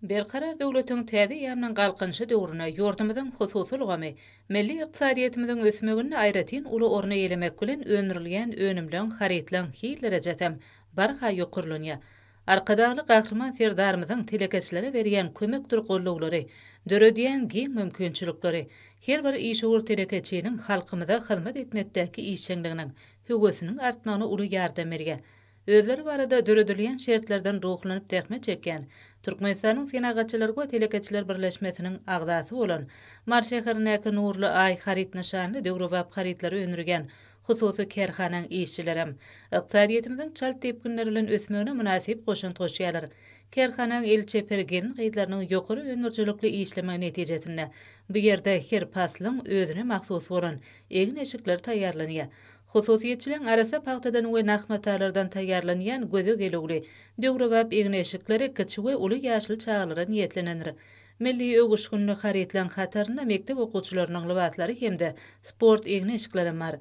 Berkarar döwletiň täze ýandan galkynyşy döwründe ýurdumyzyň hususy ulgamy milli ykdysadyýetimiziň ösmeginde aýratyn uly orny eýelemek bilen, öndürilýän önümleň, harytlaryň hil derejesem barha ýokarlanýar. Arkadagly Gahryman Serdarymyzyň telekeçilere berýän kömekdir gollawlary, döredýän giň mümkinçilikleri, her bir işewür telekeçiniň halkymyza hyzmat etmekdäki işjeňliginiň, höwesiniň artmagyna uly ýardam berýär. Özleri barada döredilýän şertlerden ruhlanyp zähmet çekýän, Türkmenistanyň Senagatçylar we telekeçiler birleşmesiniň agzasy bolan, Mary şäherindäki Nurly Aý haryt nyşanly döwrebap harytlary öndürýän hususy kärhanaň işçilerem ykdysadyýetimiziň çalt depginler bilen ösmegine mynasyp goşant goşýarlar. Kärhanaň el çeper gelin-gyzlarynyň ýokary öndürijilikli işlemegi netijesinde bu ýerde her paslyň özüne mahsus bolan egin-eşikler taýýarlanýar. Hususyýetçiligiň arassa pagtadan we nah matalardan taýýarlanýan göze gelüwli, döwrebap egin-eşikler kiçi we uly ýaşly çagalara niýetlenendir. Milli öwüşginli harytlaryň hatarynda mekdep okuwçylarynyň lybaslary hem-de sport egin-eşiklerem bar.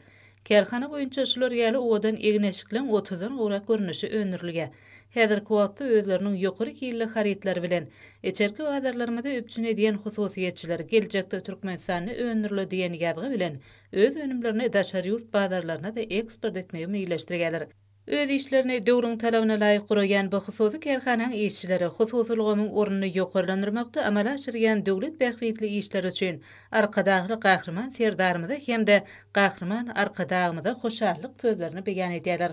Kärhana boýunça şular ýaly owadan egin-eşikleň otuzdan gowrak görnüşi öndürilýär. Häzirki wagtda özleriniň ýokary hilli harytlary bilen içerki bazarlarymyzy üpjün edýän hususyýetçiler geljekde Türkmenistanda öndürile diýen ýazgy bilen öz önümlerini daşary ýurt bazarlaryna-da eksport etmegi meýilleşdirýärler. Öz işlerini döwrüň talabyna laýyk guraýan bu hususy kärhanaň işçileri hususy ulgamyň ornuny ýokarlandyrmakda amala aşyrýan döwlet bähbitli işleri üçin Arkadagly Gahryman Serdarymyza hem-de Gahryman Arkadagymyza hoşallyk sözlerini beýan edýärler.